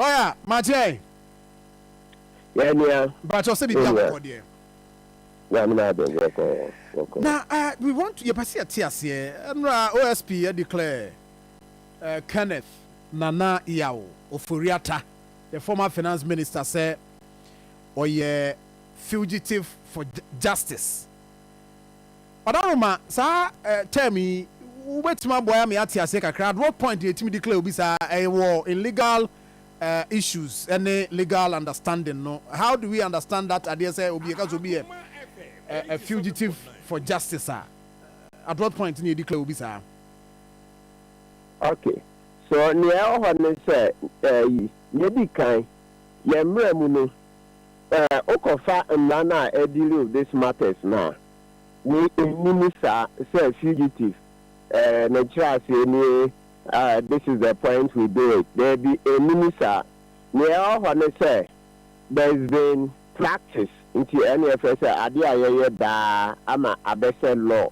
Lɔya Magyai. Yɛ nua. Mpakyɛw sɛ biribi abɔkɔ deɛ. Nyame na adom bɔkɔ bɔkɔ. Na eh we want to yɛpɛ sɛ yɛte aseɛ mmra OSP a declare eh Kenneth Nana Yaw Ofori-Atta the former finance minister sɛ ɔyɛ fugitive for justice. Ɔda Roma saa term yi wobɛtumi aboa me ate aseɛ kakra at what point na yɛtumi declare obi saa ɛwɔ in legal issues ne legal understanding no how do we understand that adeɛ sɛ obi yɛka sɛ obi yɛ a fugitive for justice a at what point na yɛ declare obi saa. Okay so nea ɛwɔ hɔ ne sɛ ɛyi yɛdi kan yɛn mmra mu no Sɛ wokɔfa mmara no a ɛ deal with this matters no a, wei ɛnni mu saa sɛ fugitive eh, ne nkyerɛaseɛ nie ah, this is the point we do it, daabi ɛnni mu saa. Neɛ ɛwɔ hɔ ne sɛ there is been practice nti ɛne yɛfrɛ sɛ adeɛ a yɛyɛ daa ama abɛsɛ law,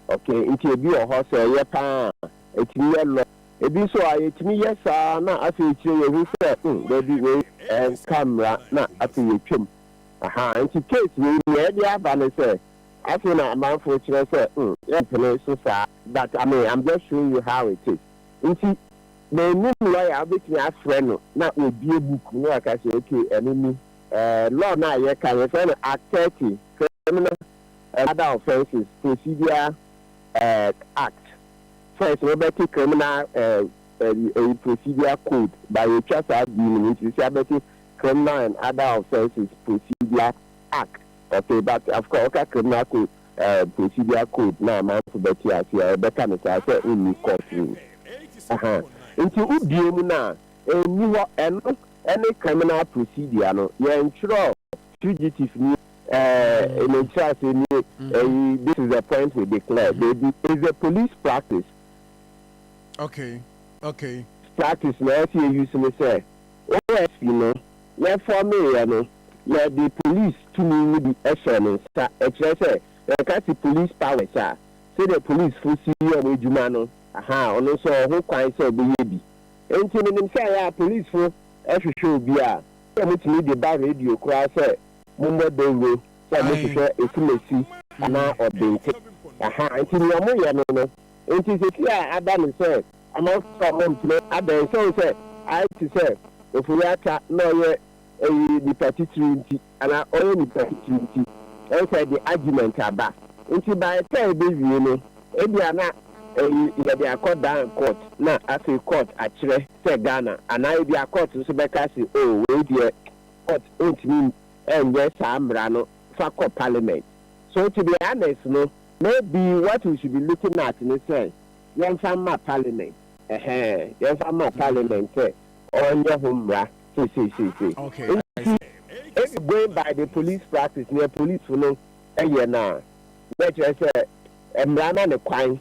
okay, nti ɛbi wɔ hɔ sɛ ɛyɛ paa a ɛtumi yɛ law. Ebi nso a, yɛtumi yɛ saa na afei akyire yi yɛhu sɛ, hmm, dabi, wei ɛnka mmara na afei yɛtwam. Aha, nti case wei nea ɛde aba ne sɛ, afei na amanfoɔ kyerɛ sɛ, hmm, yɛmpene so saa, but I mean, I'm just showing you how it is. Nti mannim lawyer a wobɛtumi afrɛ no na wabue book mu na waka sɛ, ok, ɛno ni. Eh, law no a yɛka no, yɛfrɛ no Act thirty, Criminal and Other Offences Procedure eh, Act. First no wobɛte criminal ɛyi procedure code by yɛtwa saa D no mu nti sisi abɛte criminal and other offences procedure act okay but of course woka criminal code ɛɛ procedure code na amanfo bɛte aseɛ a yɛbɛka no saa sɛ wonni court room aha nti wobue mu no a ɛnni hɔ ɛno ɛne criminal procedure no yɛntwerɛ fugitive nie, ɛɛ, ne nkyerɛase nie, ɛyi, this is the point we declare, baabi, is the police practice. Okay, okay. Practice na ɛsɛ yɛ use ne sɛ, OSP no, yɛ fɔme yɛ no, yɛde police tumi no bi hyɛɛ ne nsa, ɛkyerɛ sɛ, yɛka se police powers a, sɛdeɛ police fo si yɛ wɔn adwuma no, ahaa, ɔno nso ɔwɔ ho kwan sɛ ɔbɛyɛ bi. Nti menim sɛ ɛyɛ a police fo hwehwɛ obi a, sɛ mutumi de ba radio koraa sɛ mommɔ dawuro sɛ mohwehwɛ esimesi anaa ɔdente. Aha nti nea moyɛ no no. Enti seesei a ada no sɛ amanfoɔ a wɔmpene ada ɛnhyɛ wo sɛ ayɛ te sɛ ofori atwa na ɔyɛ ɛyi nipa titiriw nti anaa ɔyɛ nipa titiriw nti ɛnhyɛ ɛde argument aba nti by the time ɛbɛwie no ebia na ɛyi yɛde akɔ dan court na afei court akyerɛ sɛ Ghana anaa ebia court nso bɛka se oh wei deɛ court ntumi nyɛ saa mmara no fa kɔ parliament. So to be honest no maybe what we should be looking at ne sɛ yɛmfa mma parliament ɛhɛɛ yɛmfa mma parliament sɛ ɔnyɛ ho mmara seiseisei. Nti if going by the police practice neɛ policefo no yɛ no a na ɛkyerɛ sɛ mmara ma no kwan.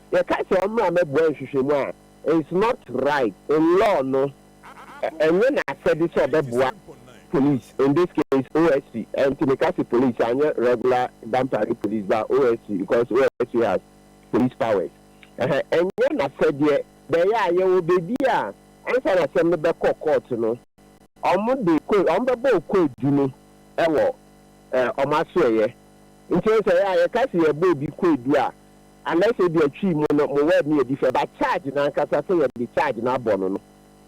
Yɛka sɛ ɔmmra mmɛboa nhwehwɛmu a, it's not right in law no, ɛnyɛ n'asɛde sɛ ɔbɛboa police, in this case OSC, nti meka se police anyɛ regular Dampare police but OSC because OSC has police powers, ɛhɛ ɛnyɛ n'asɛdeɛ, deɛ ɛyɛ a yɛwɔ baabi a ansa na asɛm no bɛkɔ court no ɔmo de ko ɔmo bɛbɔ kwadu no wɔ ɔmo asoɛeɛ, nti wohu sɛ ɛyɛ a yɛka se yɛbɔ obi kwadu a, Unless ebia Twi mu no mo word no yɛ different but charge no ankasa sɛ yɛde charge no abɔ no no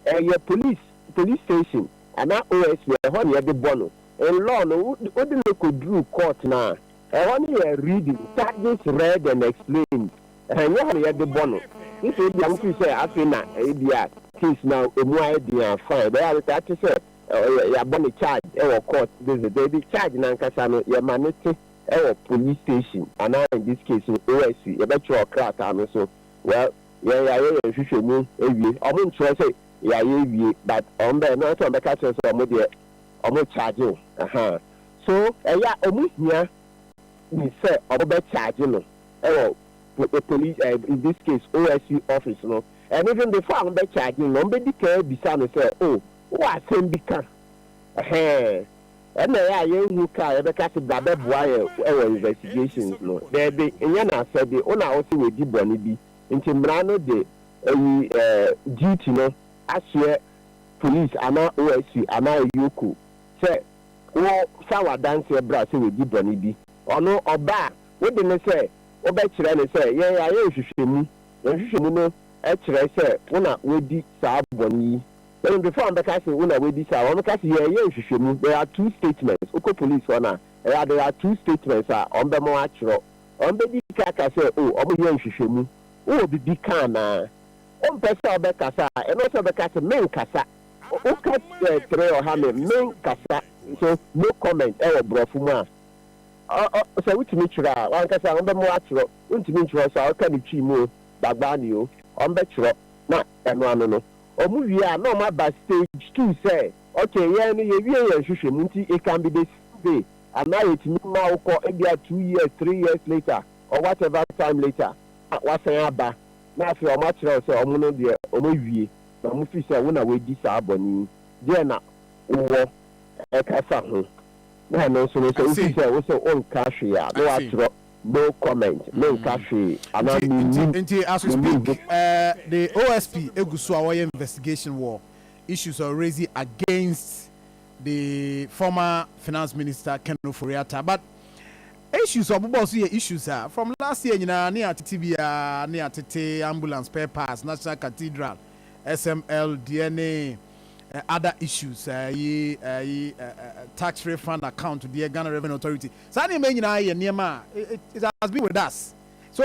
ɛyɛ police police station anaa OSP ɛhɔ na yɛde bɔ no in law no wode no kɔduru court no a ɛhɔ no yɛ reading charges read and explained ɛnyɛ hɔ na yɛde bɔ no gye sɛ ebia wo feel sɛ afei na ebia case no ɛmu ayɛ den a fine ɛbɛyɛ a wobɛka akyɛ sɛ yɛabɔ no charge ɛwɔ court visit baabi charge no ankasa no yɛma no te Ɛwɔ police station anaa in this case no OSC yɛbɛtwerɛ krataa no so well yɛn yɛayɛ yɛn nhwehwɛmu awie ɔmo ntwerɛ sɛ yɛayɛ awie but ɔmo bɛyɛ no ansa ɔmo bɛka kyerɛ sɛ ɔmo deɛ ɔmo charge wo ahaa so ɛyɛ a ɔmo hia ni sɛ ɔmo bɛ charge no ɛwɔ police eh, in this case OSC office no and even before ɔmo bɛ charge no ɔmo bɛ di kan abisa no sɛ oh wowɔ asɛm bi ka ɛhɛn. Ɛna ɛyɛ a yɛnhu ka a yɛbɛka se bra bɛboa yɛn wɔ investigations no. Daabi, nyɛ n'asɛde. Wo na wose wadi bɔne bi, nti mmara no de ayi duty no ahyeɛ police anaa OSC anaa Ayuoku sɛ wo fa w'adanseɛ bra sɛ wadi bɔne bi. Ɔno ɔba a, wode no sɛ wobɛkyerɛ no sɛ yɛn yɛayɛ nhwehwɛmu, na nhwehwɛmu no kyerɛ sɛ wo na wadi saa bɔne yi. Wɔn mfefo a wɔbɛka se wo na woabisa a, wɔbɛka se yɛreyɛ nhwehwɛmu, there are two statements. Wokɔ police hɔ no a, ɛyɛ a there are two statements a wɔbɛma wo atwerɛ. Wɔbɛdi kan aka sɛ oh, wɔreyɛ nhwehwɛmu, wowɔ biribi ka anaa? Wompɛ sɛ wobɛkasa a, ɛno sɛ wobɛka se menkasa. Woka tere ɔha me, menkasa. So no comment wɔ borɔfo mu a, sɛ wotumi twerɛ a, w'ankasa a wɔbɛma wo atwerɛ. Wontumi ntwerɛ so a, woka no Twi mu o, Dagbani o, wɔbɛtwerɛ na ɛno ano no Ɔmo wie a na ɔmo aba stage two sɛ okay yɛn no yɛwie yɛn nhwehwɛmu nti it can be the same day anaa yɛtumi ma wo kɔ ebia two years three years later or whatever time later na wasan aba na afei ɔmo akyerɛ wo sɛ ɔmo no deɛ ɔmo awie na ɔmo feel sɛ wo na w'adi saa bɔne yi deɛ na wowɔ ɛka fa ho na ɛno nso no sɛ I wo feel see, sɛ wo sɛ wo nka hwee a na I see. w'atwerɛ No comment, me nka hwee anaa me nnim, me nnim ho. The OSP gu so a wɔyɛ investigation wɔ issues ɔ raise against the former finance minister Ken Ofori Atta but issues ɔ bobɔ so yɛ issues a from last year nyinaa ne atete biara ne atete ambulance spare parts national cathedral SML deɛ ne other issues ɛyi ɛyi tax refund account deɛ Ghana revenue authority Saa nneɛma yi nyinaa yɛ nneɛma a it has been with us. So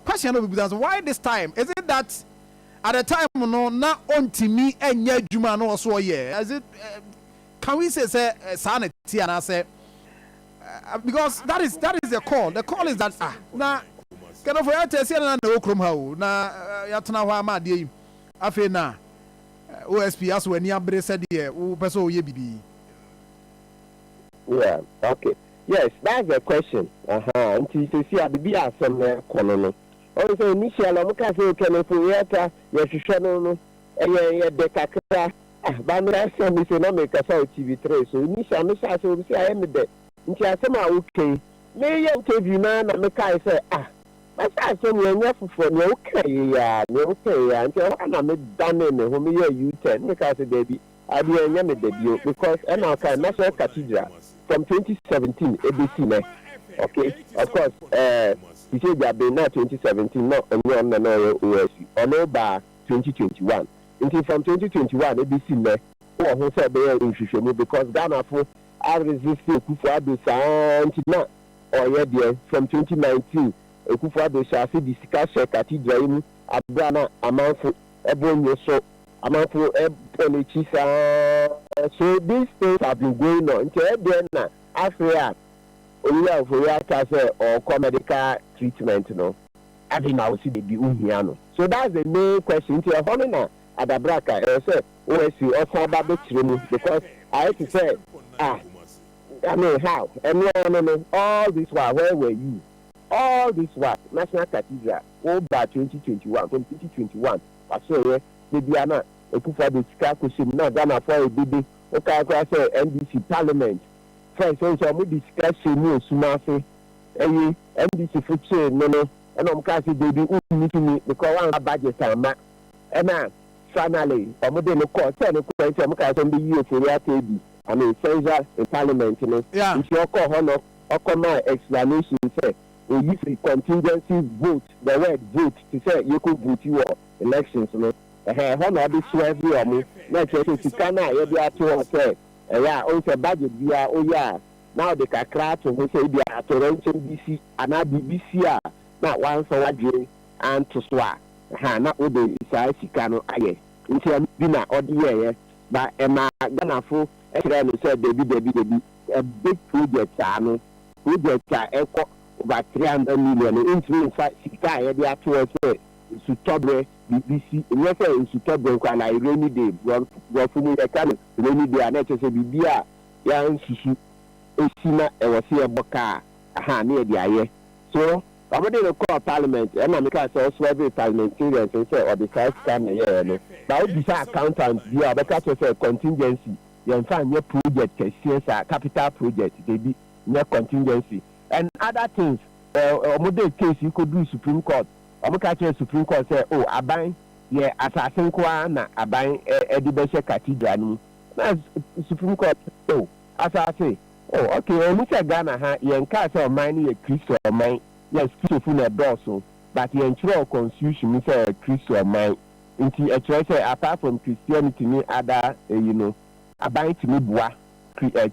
question a na obebisa no sɛ why this time? Is it that at the time no na ɔntumi nyɛ adwuma a na ɔwɔ so ɔyɛ? Is it can we say sɛ saa na ɛte anaasɛ because that is that is the call. The call is that ah na Kɛnɛfo yɛ tɛ sɛ na na ɛwɔ kurom ha o na yɛatena hɔ ama adeɛ yi afei na OSP aso ani abere sɛdeɛ wopɛ sɛ ɔyɛ biribi. Yeah okay yes that's the question ahaa nti sɛsi a bibi a asɛm no ɛkɔ no no ɔhu sɛ initial ɔmo kaa sɛ otwanefo yɛɛta yɛhwehwɛ no no ɛyɛ yɛ dɛ kakra ah ba me asɛm me se na me kasa wɔ TV three so initial me hyɛ ase wɔ me se ayɛ me dɛ nti asɛm a wo ka yi me yɛ interview no ara na me kae sɛ ah masa asɛm yi ɛnyɛ foforɔ nea wo kae yɛ yi ara nea wo kae yɛ yi ara nti ɛhɔ ara na me danee me ho me yɛɛ U turn me kaa sɛ daabi Adeɛ ɛnyɛ me dɛ bio because ɛna ɔkae Maxwell Cathedral from twenty seventeen ɛbɛsi nɛ ok of course ɛɛ te sɛ gya ben na twenty seventeen na ɔnyɛ ɔno na na ɔyɛ OSC ɔno baa twenty twenty one nti from twenty twenty one ɛbɛsi nɛ wowɔ ho sɛ ɔbɛyɛ nhwehwɛmu because Ghanafo a resist Akufo Addo saa nti na ɔyɛ deɛ from twenty nineteen Akufo Addo hyɛ ase de sika hyɛ Cathedral yi mu aberɛ a na amanfo Ɛbɔ nye so amanfo bɔ n'ekyi saa. So these things have been going on nkyɛ ɛdeɛn na afei a Owura Ofori aka sɛ ɔɔkɔ medical treatment no afei na wosi debi wohia no so that's the main question nti ɛhɔ no na adabraka ɛwɔ sɛ OSC ɔsan ba bɛkyerɛ mu because ayɛ te sɛ ah I mean how ɛnoaa no no all this while where were you All this while National Cathedral wo baa twenty twenty one from twenty twenty one waserɛeɛ da biara na Akufo Addo sika kɔhyɛ mu na Ghanafoɔ ayɛ dede wo kae koraa sɛ NDC Parliament frɛ sɛ sɛ wɔn de sika hyɛ mu wɔ sum ase ɛye NDC fo kyee no no ɛna wɔn kaa sɛ Dabi wo nni tumi because woanfa budget amma ɛna finally wɔn de no kɔɔ sɛ nokorɛ nti wɔn kaa sɛ wɔn bɛyi Ofori Atta adi I mean Central Parliament no nti ɔkɔɔ hɔ na ɔkɔmaa explanation sɛ oyi firi contingency vote, the word vote te sɛ yɛkɔ vote wɔ elections no, ɛhɛɛ ɛhɔ na ɔde swerve wɔn, na ɛkyerɛ sɛ sika no a yɛde ato hɔ sɛ ɛyɛ a wohu sɛ budget biara woyɛ a na wode kakra ato ho sɛ ebia atoyerɛnkyɛm bi si anaa biribi si a na woamfa w'adwene anto so a ɛhɛɛ na wode saa sika no ayɛ, nti ɛno bi na ɔde yɛeɛ, but ɛmaa Ghanafo kyerɛɛ no sɛ dabi dabi dabi. a big project saa no, project a ɛkɔ over three hundred million no ntumi nfa sika a yɛde ato hɔ sɛ nsutɔbrɛ biribi si, nyɛ sɛ nsutɔbrɛ nko ara, like rainy day, brɔfo mu yɛka no rainy day a na ɛkyerɛ sɛ biribi a yɛansusu si na ɛwɔ sɛ yɛbɔ ka a, aha, na yɛde ayɛ. So, wɔde no kɔɔ parliament, ɛna mekaa sɛ ɔservee parliamentarians no sɛ ɔde saa sika no na ɛyɛeɛ no, but wobisa accountant biara a ɔbɛka akyerɛ wo sɛ contingency yɛnfa nyɛ project kɛseɛ saa capital project dabi nyɛ contingency and other things eh ɔmo de case yi kɔduru supreme court ɔmo ka kyerɛ supreme court sɛ oh aban yɛ asase nko ara na aban eh de bɛhyɛ cathedral no mu na supreme court oh asase oh okay ɛwɔmu sɛ Ghana ha yɛnkaa sɛ ɔman no yɛ Christo ɔman yes Christofo na ɛdɔɔso but yɛnkyerɛw constitution mu sɛ ɔyɛ Christo ɔman Enti ɛkyerɛ sɛ apart from Christianity ne ada eyi no, aban tumi boa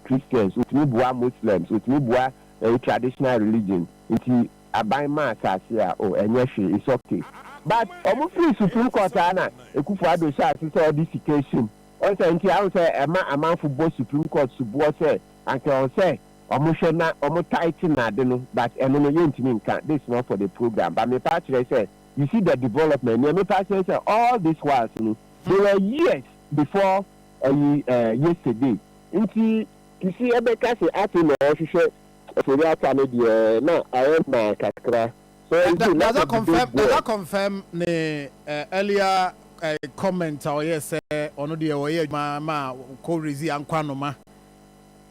Christians, otumi boa Muslims, otumi boa ɛyi traditional religion nti aban ma asase a oh ɛnyɛ hwee it's ok. But ɔmo firi supreme court a na Akufo Addo hyɛ ase sɛ ɔde sika hyem ɔn sɛ nti ahu sɛ ɛma amanfo bɔ supreme court suboɔ sɛ anka ɔn sɛ ɔmo hwɛ na ɔmo tighten ade no but ɛno no yɛntumi nka this not for the program but mepa akyerɛ sɛ you see the development nea mepɛ akyerɛ sɛ all this whiles no they were years before ɛyi eh, yesterday nti kisi ɛbɛka sɛ afei na ɔhwehwɛ ofori ata no deɛ na ayɛ mmaa kakra so That, that, does that confirm? Does that confirm ne uh, earlier uh, comment a ɔyɛ sɛ ɔno deɛ ɔyɛ adwuma ma kɔ rezi ankwanoma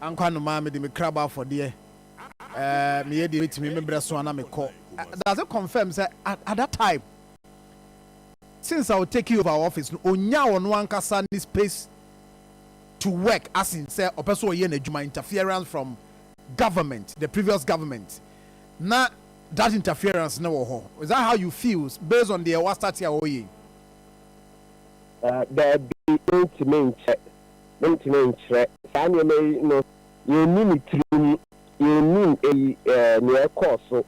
ankwanoma mede me krabɔ afɔdeɛ me yɛ deɛ metumi me brɛ so ana me kɔ does it confirm sɛ at that time since I was taking over office no onya ɔno ankasa ne space to work as in sɛ ɔpɛ so ɔyɛ n'adwuma interference from government the previous government na that interference no wɔ hɔ is that how you feel based on deɛ wastate a ɔyɛ yi. Daabi mentumi nkyɛ mentumi nkyerɛ saa nneɛma yi no Yɛnni ne tirim, yɛnnim eyi eh, nea ɛkɔɔ so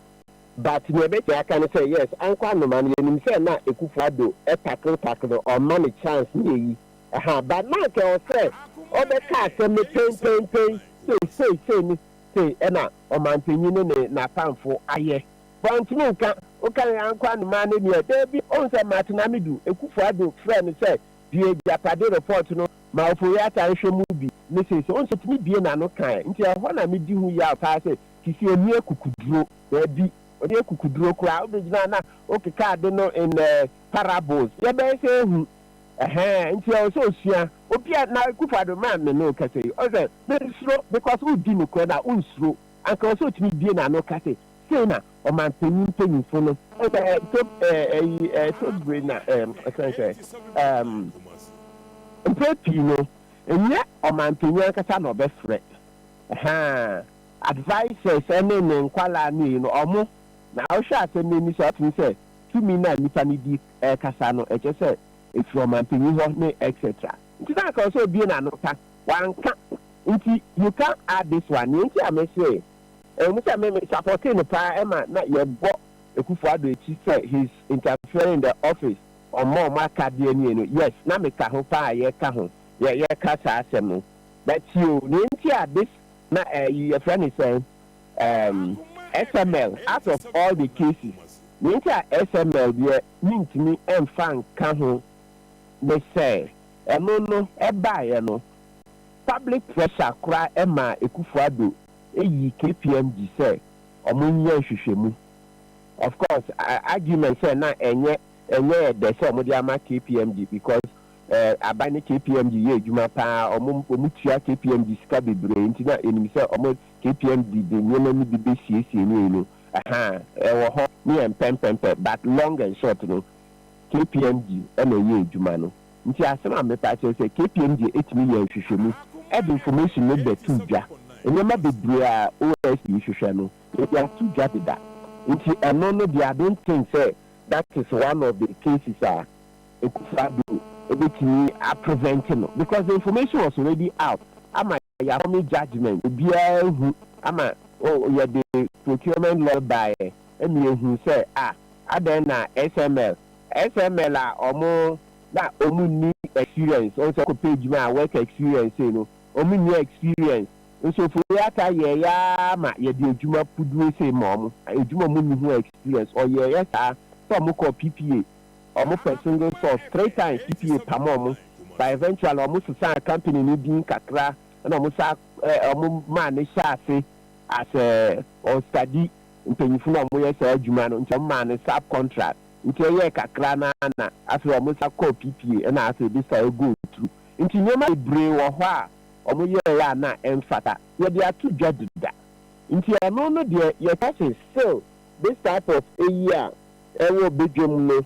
But nea ɛbɛtumi aka ne sɛ yes, Ankɔ anoma no yɛnim sɛ na Akufo Addo tackle tackle no, ɔmma no chance ne eyi ɛhaa But na anka ɛwɔ sɛ ɔbɛka asɛm no pɛn pɛn pɛn Sei sei sei ne sei ɛna Ɔmanpanyin ne ne n'atamfo ayɛ But ɔntumi nka, wokae Ankɔ anoma no nie, daabi Ɔhu sɛ Martin Amidu, Akufo Addo frɛɛ no sɛ Di agyapade report no Ma Ofori-Atta nhwɛ mu bi ne sei sɛ onso tumi bue n'ano ka ɛ, nti ɛhɔ na medi ho yaw paa sɛ Kisi ɛnni akukuduro, daabi, ɔde akukuduro koraa, wobɛgyina na wokeka ade no in a parables, yɛbɛyɛ sɛ ɛhu, ɛhɛɛ, nti ɛwɔ sɛ ɔsua, obi a, na Akufo-Addo me a me ne wo kasa yi, ɔsɛ, mensuro, because wodi nokorɛ no a, wonsuro, anka ɛwɔ sɛ ɔtumi bue n'ano ka sɛ, Sei na ɔmanpanyin mpanyimfo no. Ɛna ɛtɔ ɛyi ɛtɔ bere na ɛm ɛsɛn sɛ ɛm mpere pii no ɛnyɛ ɔmanpanyin ankasa na ɔbɛfrɛ ɛhaa advisers ɛne ne nkwadaa no ɛyi no ɔmo na ɔhwɛ asɛm no ani so a ɔtumi sɛ tumi na nipa no di ɛkasa no ɛkyɛ sɛ ɛfiri ɔmanpanyin hɔ ne etc nti na anka ɔsɛ obie n'ano ka wanka nti you can't add this one nea nti a mɛsɛ Ɛwɔ mu sɛ me me supportee no paa ɛma na yɛbɔ Akufo Addo akyi sɛ he's interfering in the office ɔmma ɔmo akadeɛ nie no yes na me ka ho paa yɛka ho yɛ yɛka saa asɛm no but tio nea ɛnti a this na ɛyi yɛfrɛ no sɛn ehm SML out of all the cases nea ɛnti a SML deɛ me ntumi ɛnfa nka ho ne sɛ ɛno no ɛbaeɛ no public pressure koraa ɛmaa Akufo Addo Eyi kpmg sɛ ɔmo nyɛ nhwehwɛmu. Of course argument sɛ na ɛnyɛ ɛnyɛ yɛ dɛ sɛ ɔmo de ama kpmg because eh aban ne kpmg yɛ adwuma paa ɔmo ɔmo tua kpmg sika bebree nti na yɛnim sɛ ɔmo kpmg de nneɛma no bi bɛ siesie no eno ahaa ɛwɔ hɔ ne yɛn pɛmpɛmpɛ but long and short no kpmg ɛna ɛyɛ adwuma no. Nti asem a mepɛ akyerɛ sɛ KPMG etumi yɛ nhwehwɛmu ɛde information no bɛ to dwa. Nneɛma bebree a OSP hwehwɛ no yɛde ato dwa deda. Nti ɛno no deɛ I don't think sɛ that is one of the cases a Akufo-Addo ebetumi a prevent no because the information was already out ama ɛyɛ afɔme judgement obiara hu ama oh yɛde procurement law baeɛ ɛna yɛhuu sɛ ah adɛn na SML SML a ɔmo na ɔmo nni experience ɔhu sɛ kɔpɛ adwuma a work experience sei no ɔmo nni experience nso Ofori-Atta yɛɛyɛ ara ma yɛde adwuma puduo sei ma ɔmo adwuma ɔmo nni ho experience ɔyɛɛyɛ saa sɛ ɔmo kɔɔ PPA Ɔmo pɛ single source three times cpa pam ɔmo but eventually ɔmo sesaa company no din kakra ɛna ɔmo saa ɛɛ ɔmo maa no hyɛɛ ase as ɛɛ ɔn study mpanyinfo na ɔmo yɛ saa adwuma no nti ɔmo maa no sub contract nti ɛyɛɛ kakra no ara na afei ɔmo san kɔɔ cpa ɛna afei this time ɛgo through nti nneɛma bebree wɔ hɔ a ɔmo yɛɛɛ a na ɛnfata yɛde ato dwa deda nti ɛno no deɛ yɛka se still this type of ɛyi a Wɔ badwam no,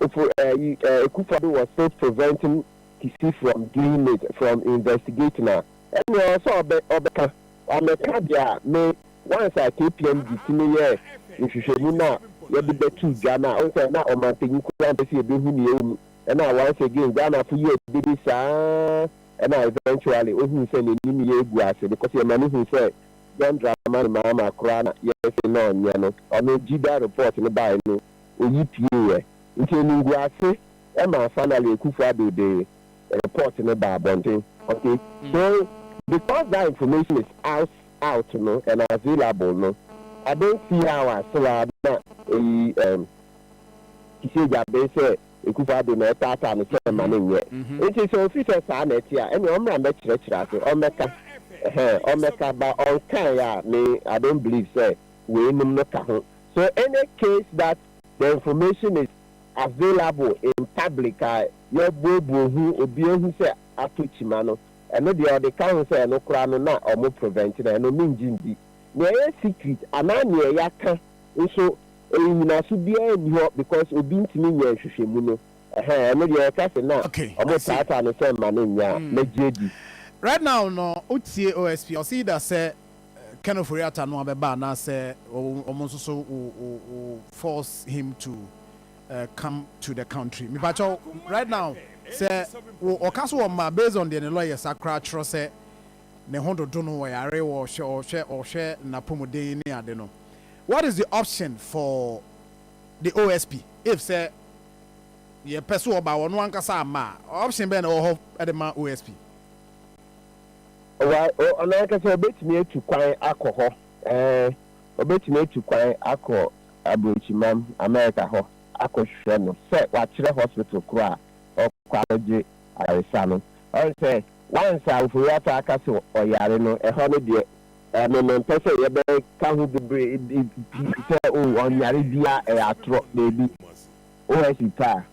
ofo yi ekufa bi wɔ State Preventing Kisi from Doing It from Investigating a, ɛnneɛ ɔwɔ sɛ ɔbɛ ɔbɛka. Wamɛka deɛ a, me once a KPM de ti no yɛɛ nhwehwɛmu no a yɛde bɛtoo dwa no a, wohu sɛ na ɔmanpanyin koraa mpɛ sɛ yɛbɛhu deɛ ɛwɔ mu. Ɛna once again Ghanafo yɛɛ dede saa ara ɛna eventually ohuu sɛ n'anim yɛ agu ase because yɛma no hu sɛ John Dramani Mahama koraa na yɛse na ɔnyɛ no, ɔno gye da report no bae no oyi pieeɛ, nti animguase maa finally Akuffo Addo de report no baa abɔnten. Okay so because that information is out out no and available no I don't see how a so a na eyi ehm Kisiagya bee sɛ Ekufuaa de, na ɛtaataa no sɛ mma no nyɛ. Enti sɛ ofi sɛ saa na ɛte a, ɛnneɛ ɔmmra mmɛkyerɛkyerɛ ase. Ɔmmɛka. Ɛhɛn, ɔmmɛka. Ba ɔnkaeɛ a, me, I don't believe sɛ weinom no ka ho. So any case that the information is available in public a yɛabuobuo ho, obi ahu sɛ atɔ kyima no, ɛno deɛ ɔde ka ho sɛ ɛno koraa no na wɔprevent no a, ɛno mengye ndi. Nea ɛyɛ secret anaa nea yɛaka nso, Nnyinaso biara nni hɔ because obi ntumi nyɛ nhwehwɛmu no ɛhɛn ɛno deɛ yɛka se na Okay ɔmo I see. taataa no sɛ mma no nyɛ a Mm. mɛgye adi. Right now no wo tie OSP ɔse either sɛ Ken Ofori Atta no abɛba anaasɛ ɔmo nso so wo wo wo force him to come to the country. Mepakyɛw right now sɛ wo ɔka so wɔ mma based on deɛ ne lawyers akora atwerɛ sɛ ne ho dodo no ɔyare ɔhwɛ ɔhwɛ ɔhwɛ napɔmuden ne ade no what is the option for the OSP if sɛ yɛ pɛ so ɔba ɔno ankasa ama a option bɛn na ɛwɔ hɔ de ma OSP. Wa o ɔno ankasa ɔbɛtumi atu kwan akɔ hɔ ɛɛ ɔbɛtumi atu kwan akɔ abrokyimam America hɔ akɔ hwɛ no sɛ wakyerɛ hospital koro a ɔkɔ akɔ gye ayaresa no ɔn sɛ Once a ofori ata aka sɛ ɔyare no, ɛhɔ no deɛ ɛno no mpɛ sɛ yɛbɛka ho bebree bi sɛ oh ɔnyare biaa ɛyɛ atorɔ, daabi. OSP pɛ a,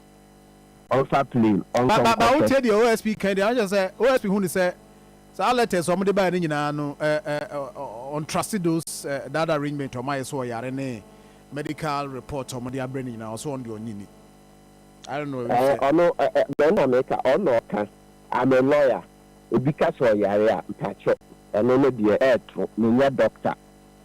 ɔmfa plane ɔnkɔ nkɔtɛ. Ba wotie deɛ OSP ka yi deɛ akyerɛ sɛ OSP hu no sɛ saa letters a ɔmo de baeɛ no nyinaa no ɔn trust those that arrangement a ɔmo ayɛ sɛ ɔyare ne medical report a ɔmo de abrɛ no nyinaa ɔsɛ ɔn deɛ ɔnye ni. I don't know. Ɛɛ ɔno mɛn na meka ɔn na ɔka. I'm a lawyer, obi ka sɛ ɔyare a, mpakyɛ ɛno no deɛ ɛɛto, me nyɛ doctor,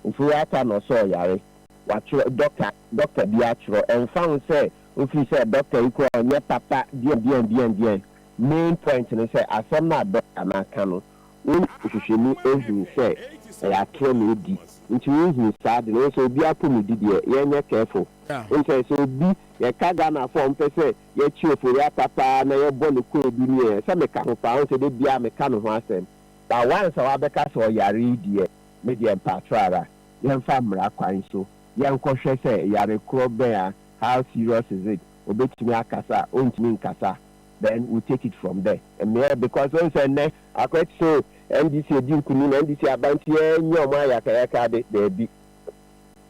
mfeɛ ata na ɔsɛ ɔyare, watwerɛ, doctor, doctor bi atwerɛ, ɛnfa ho sɛ wofiri sɛ doctor yi koraa ɔnyɛ papa deɛn deɛn deɛn deɛn, main point ne sɛ asɛm no a doctor no aka no wo hwehwɛ mu hunu sɛ ɛyɛ atorɔ na ɔdi, nti wo hunu saa ade no, wohu sɛ obiara pomudi deɛ yɛnyɛ careful, wohu sɛ sɛ obi, yɛka Ghanafoɔ a wɔpɛ sɛ Yɛkye Ofori Atta paa na yɛbɔ no kwaadu ni ɛ, sɛ meka ho paa, wohu sɛ da biaa meka ne ho asɛm, but once a wabɛka sɛ ɔyare yi deɛ, me deɛ mpaatwɔ ara, yɛmfa mmara kwan so, yɛnkɔ hwɛ sɛ yare korɔ bɛn a, how serious is it, ɔbɛtumi akasa a, ɔntumi nkasa, then we take it from there. Mmea because wohu sɛ nnɛ akɔyɛ te sɛ o, NDC adi nkunim, NDC aba nti yɛnyɛ wɔn ayakayaka ade, daabi,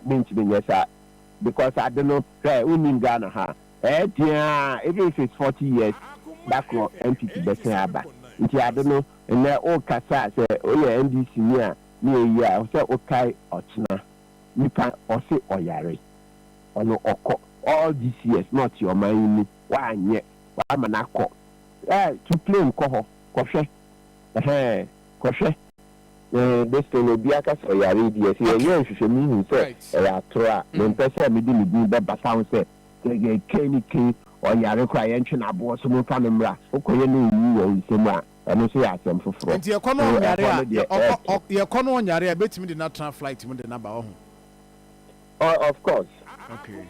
mentumi nyɛ saa, because ade no, hwɛ, wonnim Ghana ha a, Ɛyɛ dzen ara a, even if it's forty years, da kor entity bɛsen aba. Ntsi ade no, ndɛ orekasa a, sɛ eyɛ NDC nyi a ne eyi a, ɔsɛ okae ɔkyena nyimpa ɔse ɔyare, ɔno ɔkɔ, all these years na ɔtse ɔman yi mu, ɔannyɛ, ɔama no akɔ, eh, to claim kɔ hɔ kɔhwɛ, eh-heh, kɔhwɛ, eh, this thing obi aka sɛ ɔyare yi deɛ, sɛ yɛyɛɛ nhwehwɛmu hu sɛ ɔyɛ ator a, memmpɛ sɛ mede ne dzin bɛbata ho sɛ Gɛgɛ kee ne kee ɔyare koraa yɛntwe no aboɔ so momfa no mmra wokɔyɛ no owu wɔ wo nsam a ɛno nso yɛ asɛm foforɔ Nti yɛkɔ no so ɔnyare ɛhɔ a no deɛ yɛ ɔkɔ ɛɛto. ɔk yɛkɔ no ɔnyare a yɛbɛtumi de no atena flight mu de no aba wahu. Oh of course Okay.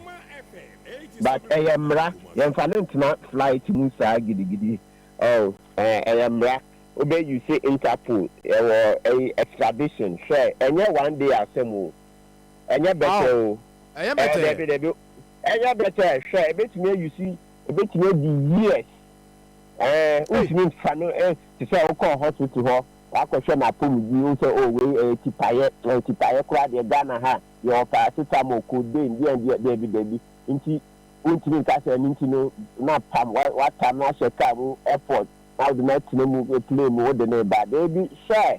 but ɛyɛ mmara yɛnfa no ntena flight mu saa gidigidi oh ɛɛ ɛyɛ mmara wobɛ use interpol ɛwɔ ɛyi extradition hwɛ ɛnyɛ one day asɛm o. Ɛnyɛ bɛtɛ o. Ɛyɛ bɛtɛ. Ɛɛ dabi dabi. Ɛnyɛ bɛtɛ. Hwɛ ebetumi ayi si ebetumi adi years. Ɛɛ wotumi nfa no ɛ te sɛ wokɔ hospital hɔ wakɔhwɛ n'apɔmuden wohu sɛ o wei ɛyɛ tipaeɛ ɛyɛ tipaeɛ koraa deɛ Ghana ha yɛwɔ paracetamol codeine deɛ deɛ dabi dabi nti wontumi nka sɛ ɛno nti no na pam watam no ahyɛ kaa mu airport na wode no atena mu plane mu wode no reba dabi hwɛ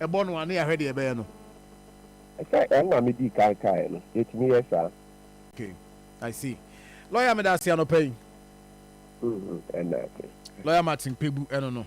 Bɔ no a na yɛahwɛ deɛ ɛbɛyɛ no. Sɛ ɛma me dii kan kaeɛ no, yɛtumi yɛ saa. Okay, I see. Lawyer meda ase anɔpa yi. Ɛnna ase. Lawyer Martin Kpebu ɛno no.